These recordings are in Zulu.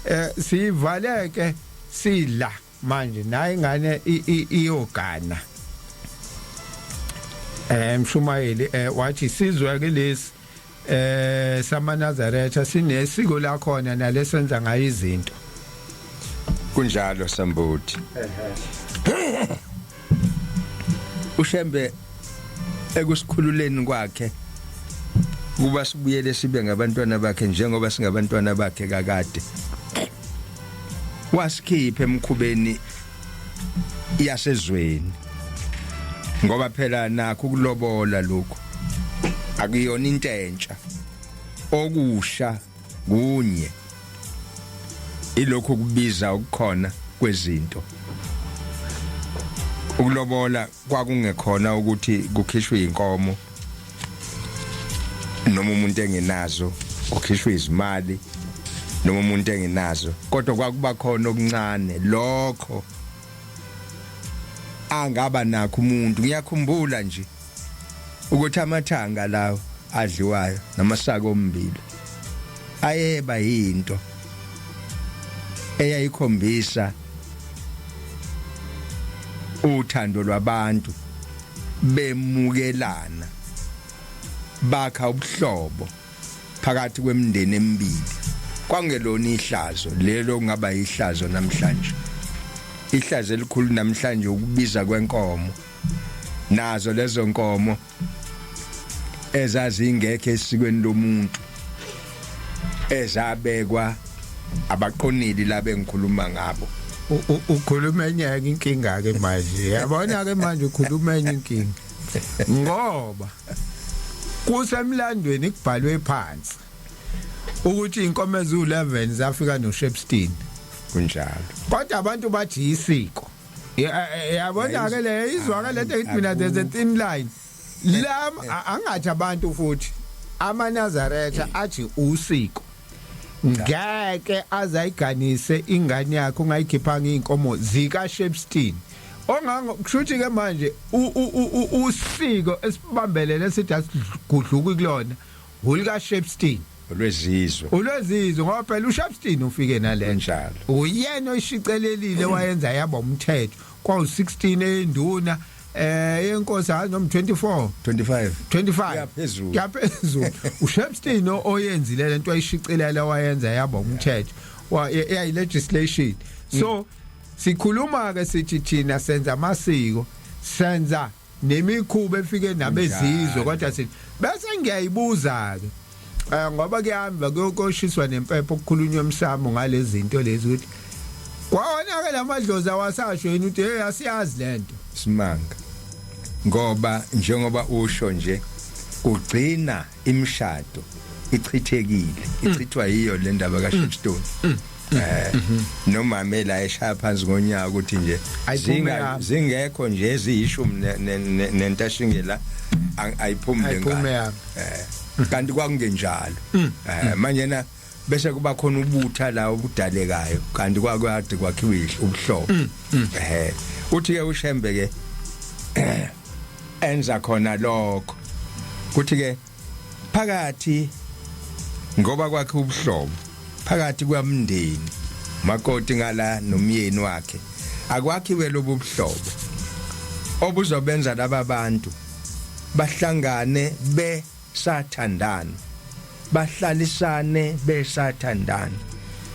eh sivaleke sidla manje naye ingane iyogana eh mshumayeli eh wathi sizwe ke lesi eh samanazaretha sinesiko lakhona nalesenza ngayo izinto kunjalo sambuthi uShembe ekusikhululeni kwakhe kuba sibuyele sibe ngabantwana bakhe njengoba singabantwana bakhe kakade wasikhipha emkhubeni yasezweni ngoba phela nakho ukulobola lokho akuyona into entsha okusha kunye ilokho kubiza ukukhona kwezinto ukulobola kwakungekhona ukuthi kukhishwe inkomo noma umuntu engenazo ukhishwe izimali noma umuntu engenazo kodwa kwakuba khona okuncane lokho angaba nakho umuntu ngiyakhumbula nje ukuthi amathanga lawo adliwayo namasaka ommbila ayeba yinto eyayikhombisa uthando lwabantu bemukelana bakha ubuhlobo phakathi kwemindeni emibili kwangelona ihlazo lelo kungaba ihlazo namhlanje ihlazo elikhulu namhlanje ukubiza kwenkomo nazo lezo nkomo ezazingekho esikweni lomuntu ezabekwa abaqonili laba engikhuluma ngabo ukhuluma enye inkinga ke manje yabona ke manje ukhuluma enye inkinga ngoba kusemlandweni kubhalwe phansi ukuthi inkomo ezu11 zafika noShepstein kunjalo kodwa abantu bathi isiko yabona ke le izwa ke lento ethi mina there's a thin line eh, la eh. angathi abantu futhi amanazaretha eh. athi usiko ngeke azayiganise ingane yakhe ungayikhiphanga inkomo zika Shepstein ongango kushuthi ke manje usiko esibambelele sithi asigudluki kulona hulika Shepstein olwezizwe ulwezizwe ngoba phela uShepstein ufike nalento njalo uyena oyishicelelile wayenza yaba umthetho kwa 16 enduna eh yenkosi hayi noma 24 25 25 Yaphezulu. yaphezulu uShepstein o- oyenzile lento ayishicelela wayenza yaba umthetho wa yayi legislation so sikhuluma ke sithi thina senza amasiko senza nemikhuba efike nabezizwe kodwa sithi bese ngiyayibuza-ke um ngoba kuyahamva kuyokoshiswa nempepho kukhulunywa emsamo ngalezi zinto lezi ukuthi kwawona-ke la madlozi awasasho yini ukuthi hey asiyazi le nto simanga ngoba njengoba usho nje kugcina imishado ichithekile mm. ichithwa yiyo le ndaba ka Shipstone mm. mm. mm. eh mm-hmm. nomama la eshaya phansi ngonyaka ukuthi nje zinga zingekho nje eziyishumi nentashingela ayiphumile ngani eh kanti kwakungenjalo eh manje na bese kuba khona ubutha la obudalekayo kanti kwakwade kwakhiwa ubuhlobo mm, mm. ehe uthi ke ushembe ke enza khona lokho kuthi ke phakathi ngoba kwakhe ubuhlobo phakathi kwamndeni makoti ngala nomyeni wakhe akwakhiwe lobu buhlobo obuzobenza laba bantu bahlangane be sathandana bahlalisane besathandana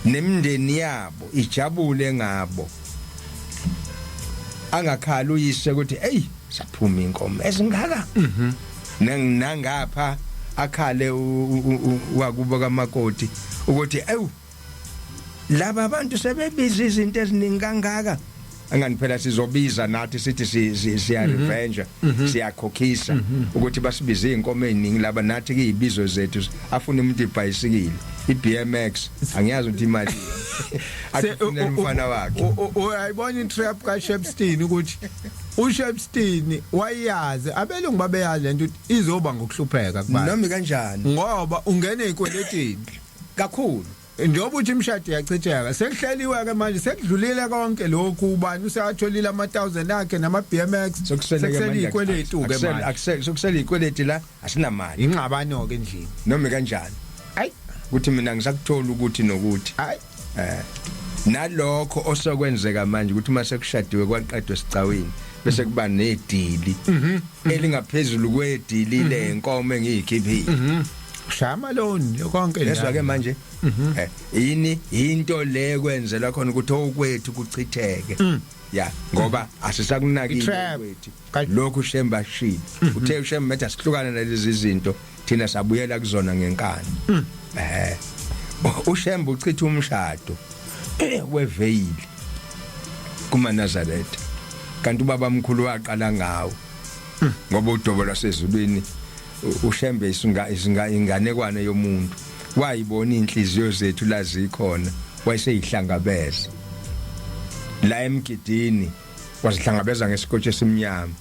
nemndeni yabo ijabule ngabo angakhala uyise ukuthi hey saphuma inkomo ezingaka mhm nangapha akhale wakubo kamakoti ukuthi ewu laba abantu sebebiza izinto eziningi kangaka angani phela sizobiza nathi sithi siya mhm. revenge mhm. siyakhokhisa mhm. ukuthi basibize inkomo eziningi laba nathi kuyibizo zethu afuna umuntu ibhayisikile iBMX angiyazi ukuthi imali athina umfana wakhe uyayibona intrap ka Shepstein ukuthi uShepstein wayazi abelungu babeyazi lento izoba ngokuhlupheka kubantu nami kanjani ngoba ungene ekweletini kakhulu njengoba uthi imshado yachitheka sekuhleliwe ke manje sekudlulile konke lokhu ubani useyatholile ama 1000 akhe nama BMX sekusele ikweletu ke manje akusele sekusele ikweletu la asinamali ingxabano ke endlini noma kanjani ay ukuthi mina ngisakuthola ukuthi nokuthi ay eh nalokho osokwenzeka manje ukuthi uma sekushadiwe kwaqedwe sicawini bese kuba nedili mhm. elingaphezulu kwedili lenkomo mhm. engiyikhiphile mhm. shama loni konke lezwa ke manje mhm. eh, yini into le kwenzela khona ukuthi okwethu kuchitheke mm. ya ngoba asisakunakile kwethu lokhu shemba shini mhm. uthe ushemba metha sihlukana nalezi zinto thina sabuyela kuzona ngenkani mm. eh ushemba uchitha umshado eh, weveyili kuma Nazareth kanti ubaba mkhulu waqala ngawo mm. ngoba udobo lwasezulwini ushembe inganekwane yomuntu wayibona inhliziyo zethu lazikhona wayeseyihlangabeza la emgidini wazihlangabeza ngesikotshi esimnyama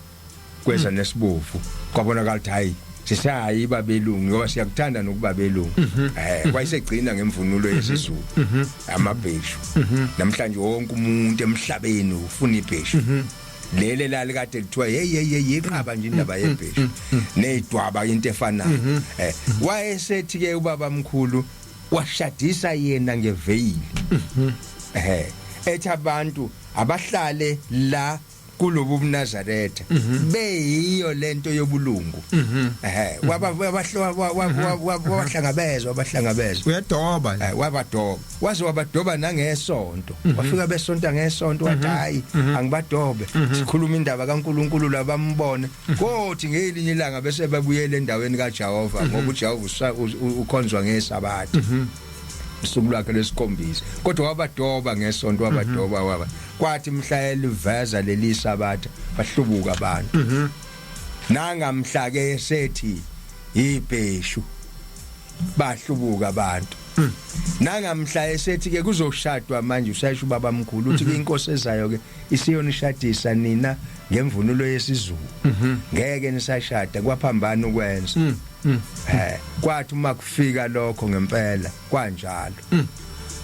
kweza hmm. nesibovu kwabonakala ukuthi hayi sisayi babelungu ngoba siyakuthanda nokuba belungu mhm. eh wayesegcina ngemvunulo mhm. yesizulu mhm. amabheshu namhlanje wonke umuntu emhlabeni ufuna ibheshu lele lali kade kuthiwa hey hey hey yiqaba nje indaba yebheshu mm, mm, mm. nezidwaba into efanayo mm-hmm. eh wayesethi ke ubaba mkhulu washadisa yena ngeveyili mm-hmm. eh ethi abantu abahlale la kulobu bunazaretha mm-hmm. beyiyo lento yobulungu eh wabahlangabezwa abahlangabezwa uyadoba eh, wabadoba waze wabadoba nangesonto mhm. wafika besonta ngesonto wathi mhm. hayi mhm. angibadobe sikhuluma indaba kaNkuluNkulu labambone kothi ngelinye ilanga bese babuyele endaweni kaJehova ngoba uJehova ukhonzwa ngesabatha usuku lwakhe lesikhombisa kodwa wabadoba ngesonto wabadoba waba kwathi mhla eliveza leli sabatha bahlubuka abantu nangamhla ke sethi ibheshu bahlubuka abantu hmm. nangamhla esethi ke kuzoshadwa manje usayisho ubaba mkhulu uthi mhm. inkosi ezayo ke isiyonishadisa nina ngemvunulo yesizulu mhm. ngeke nisashada kwaphambana ukwenza mm, mm. eh kwathi uma kufika lokho ngempela kwanjalo mm.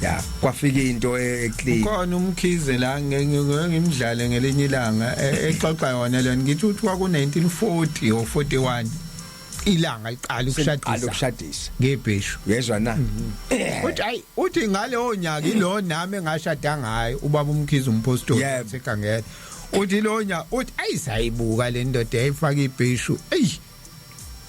ya kwafika into e-, eclean khona umkhize la ngimdlale ngelinye ilanga e-, exoxa yona lena ngithi uthi kwaku 1940 or 41 ilanga liqala ukushadisa ukushadisa ngebheshu yezwa na mhm. uthi hayi uthi ngaleyo nyaka ilo nami engashada ngayo ubaba umkhize umpostoli sekangela uthi lo nyaka uthi ayisayibuka le ndoda yayifaka ibheshu eyi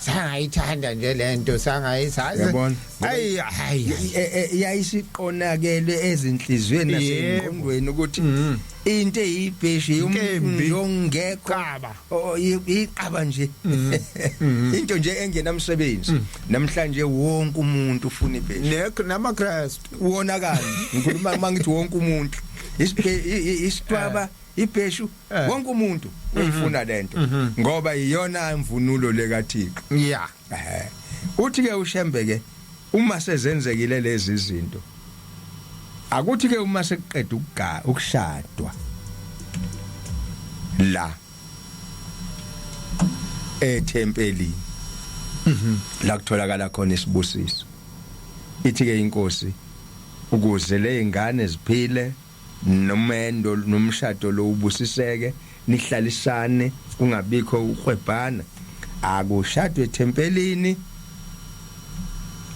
sangayithanda nje lento sangayisazi yabona ayi hayi e, e, e, yayisiqonakele ezinhlizweni nasengqondweni ukuthi mm-hmm. into eyibheshi yomkembi yongekho qaba Oh iqaba nje. Mm. Mm. Into nje engenamsebenzi. Mm. Namhlanje wonke umuntu ufuna ibheshu. Nekho nama Christ wona kanje. Ngikhuluma mangithi wonke umuntu. Isitwaba eh. ibheshu eh. wonke umuntu uyifuna mm-hmm. lento mm-hmm. ngoba iyona imvunulo lekaThixo. Yeah. Ehhe. Uthi ke uShembe ke uma sezenzekile lezi zinto akuthi ke uma sekuqeda ukugaya ukushadwa la ethempelini mhm. la kutholakala khona isibusiso ithi ke inkosi ukuze lezingane ziphile nomendo nomshado lo ubusiseke nihlalisane kungabikho ukwebhana akushadwe ethempelini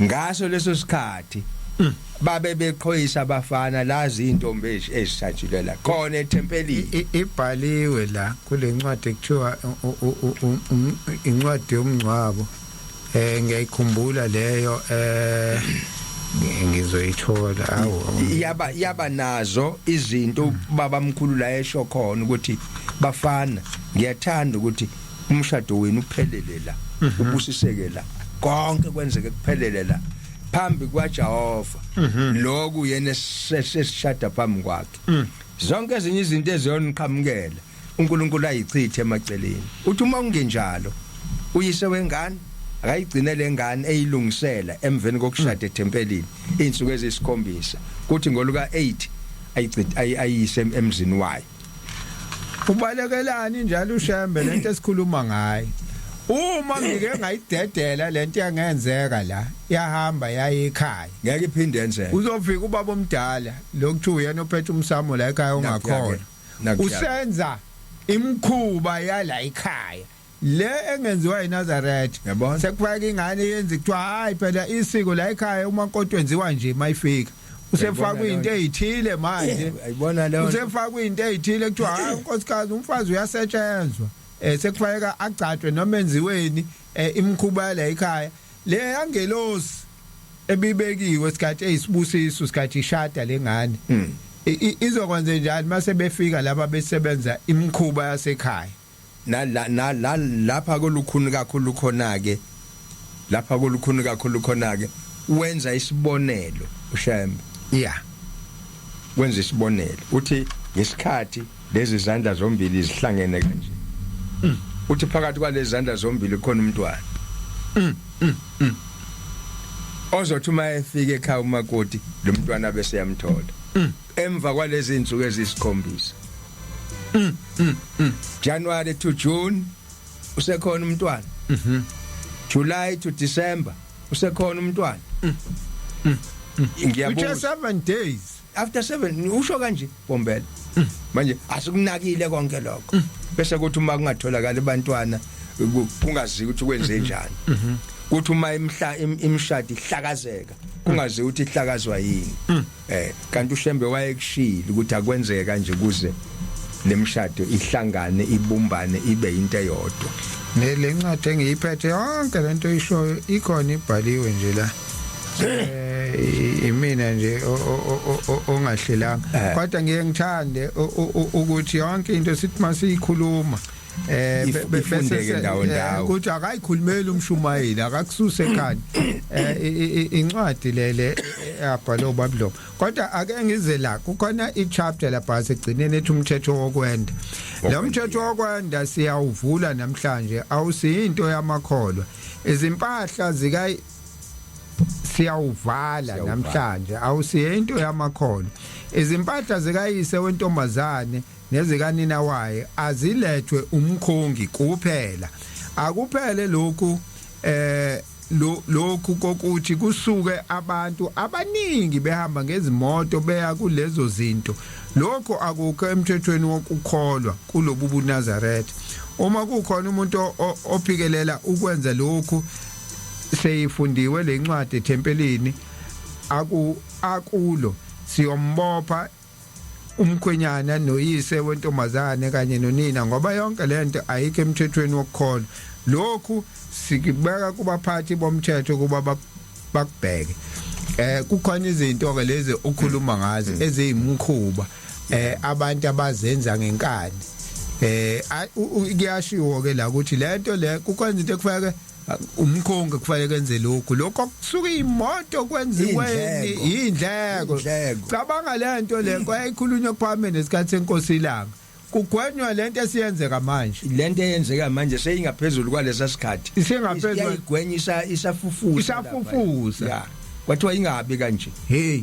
ngaso leso sikhathi mm. babe beqhoyisa abafana lazi intombi ezisatshile la khona ethempelini ibhaliwe la kulencwadi ekuthiwa incwadi yomngcwabo eh ngiyayikhumbula leyo eh ngizoyithola awu yaba yaba nazo izinto baba mkhulu la esho khona ukuthi bafana ngiyathanda ukuthi umshado wenu uphelele la mhm. ubusiseke la konke kwenzeke kuphelele la phambi kwaJehova mhm. lokhu yena sesishada phambi kwakhe mm. zonke ezinye izinto eziyoniqhamukela uNkulunkulu ayichithe emaceleni uthi uma kungenjalo uyise wengane akayigcine lengane eyilungisela emveni kokushada ethempelini izinsuku ezisikhombisa kuthi ngoluka 8 ayicithe ayise emzini wayo ubalekelani njalo ushembe lento esikhuluma ngayo uma ngike ngayidedela lento yangenzeka la yahamba yaye ekhaya ngeke iphinde yenzeke uzofika ubaba omdala lokuthiwa uyena ophethe umsamo la ekhaya ongakhona usenza imkhuba yala ikhaya le engenziwa eNazareth sekufaka ingane yenza kuthiwa hayi phela isiko la ekhaya uma nkonto enziwa nje mayifika usefakwa into ezithile manje ayibona leyo usefakwa into ezithile kuthiwa hayi unkosikazi umfazi uyasetshenzwa eh sekufanele agcatshwe noma enziweni eh, imkhuba la ekhaya Leya ngelosi ebibekiwe isikhathi eyisibusiso isikhathi ishada lengane. Mm. Izokwenze njani mase befika laba besebenza imkhuba yasekhaya? Nala nala lapha kolukhuni kakhulu khona ke. Lapha kolukhuni kakhulu khona ke wenza isibonelo uShembe. Yeah. Wenza isibonelo. Uthi ngesikhathi Lezi zandla zombili zihlangene kanje. Mm. Uthi phakathi kwalezi zandla zombili khona umntwana. Mm. Mm. Mm. Ozothi uma efika ekhaya umakoti lo mntwana bese yamthola. Mm. Emva kwalezi insuku ezisikhombisa. Mm. Mm. Mm. January to June usekhona umntwana. Mhm. Mm July to December usekhona umntwana. Mm. Mm. Mm. Ngiyabuza. Which are 7 days. after 7 usho kanje bombela mm. manje asikunakile konke lokho mm. bese kuthi uma kungatholakala abantwana kungazi ukuthi kwenze mm-hmm. njani mm-hmm. kuthi uma imhla imshadi ihlakazeka kungazi ukuthi ihlakazwa yini mm. eh kanti ushembe wayekushila ukuthi akwenzeke kanje kuze lemshado ihlangane ibumbane ibe into eyodwa le ncwadi engiyiphethe yonke lento ishoyo ikhona ibhaliwe nje la eh imina nje ongahlelanga eh. kodwa ngiye ngithande ukuthi yonke into sithi masiyikhuluma eh befundeke ndawo eh, ndawo ukuthi akayikhulumeli umshumayeli akakususe ekhani eh incwadi lele abhalwe uBabylon kodwa ake ngize la kukhona ichapter lapha segcineni ethi umthetho wokwenda lo mthetho wokwenda siyawuvula namhlanje awusiyinto yamakholwa izimpahla zika siyawuvala namhlanje awusiye into yamakhono izimpahla zikayise wentombazane nezikanina wayo azilethwe umkhongi kuphela akuphele lokhu eh lokhu kokuthi kusuke abantu abaningi behamba ngezimoto beya kulezo zinto lokho akukho emthethweni wokukholwa kulobu buNazaretha uma kukhona umuntu ophikelela ukwenza lokhu seyifundiwe le ncwadi ethempelini aku akulo siyombopha umkhwenyana noyise wentombazane kanye nonina ngoba yonke lento ayikho emthethweni wokukholwa lokhu sikubeka kubaphathi bomthetho kuba bakubheke eh kukhona izinto ke lezi okhuluma ngazo mm. eziyimkhuba eh abantu abazenza ngenkani eh kuyashiwo ke la ukuthi lento le kukhona into ekufanele umkhongi kufanele kenze lokhu lokho kusuka imoto kwenziweni indleko cabanga lento le kwayikhulunywa kuphambene nesikhathi senkosi ilanga kugwenywa lento esiyenzeka manje lento eyenzeka manje seyingaphezulu kwalesa sikhathi isingaphezulu igwenyisa isafufusa isafufusa kwathiwa ingabi kanje hey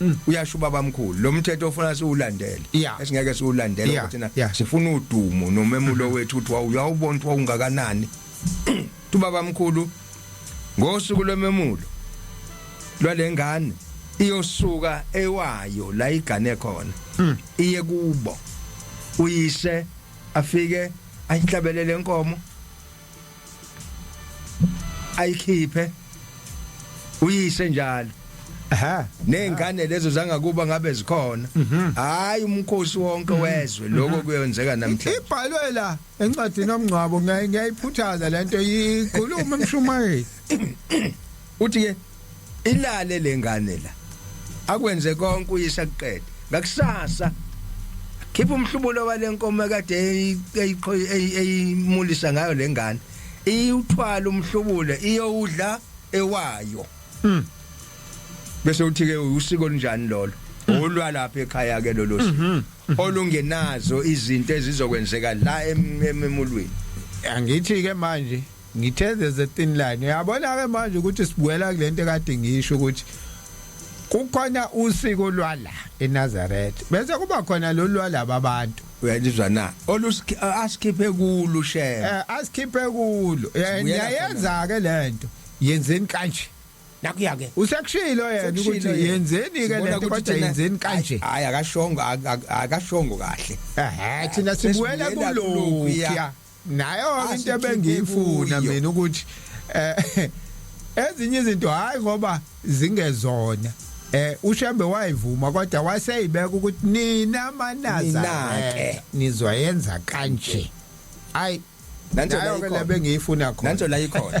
Mm. uyasho ubaba mkhulu lo mthetho ofuna siwulandele yeah. esingeke siwulandele yeah. ukuthi na yeah. sifuna udumo nomemulo mm-hmm. wethu uthi wawuyawubona ukuthi wawungakanani ubaba mkhulu ngosuku lwememulo lwalengane iyosuka ewayo la igane khona mm. iye kubo uyise afike ayihlabelele inkomo ayikhiphe uyise njalo aha nezingane lezo zangakuba ngabe zikhona mhm. hayi umkhosi wonke mhm. wezwe lokho mhm. kuyenzeka namhlanje ibhalwe la encwadini omngcwabo ngiyayiphuthaza lento ikhuluma emshumayeli uthi ke ilale lengane la akwenze konke uyisha kuqede ngakusasa khipha umhlubulo walenkomo kade eyimulisa ngayo lengane iyuthwala umhlubule iyowudla ewayo mhm bese uthi ke usiko linjani lolo olwa lapha ekhaya ke lolo siko mhm. olungenazo izinto ezizokwenzeka la ememulweni angithi ke manje ngithe there's a thin line uyabona ke manje ukuthi sibuyela kulento ekade ngisho ukuthi kukhona usiko lwala eNazareth bese kuba khona lo lwalaba abantu uyalizwa na olusikhiphe kulo shema eh asikhiphe kulo yayenza ke lento yenzeni kanje nakuya ke usekushilo yena ukuthi yenzeni ke lento kodwa yenzeni kanje hayi akashongo akashongo kahle ehe thina sibuwela kulokhu nayo into Asikhiphe ebengiyifuna kuyo. mina ukuthi eh ezinye izinto hayi ngoba zingezona eh ushembe wayivuma kodwa waseyibeka ukuthi nina manaza Nina-ke. nizoyenza kanje ay Nanto la nayo ke ikhona. lebengiyifuna khona Nanto la ikhona.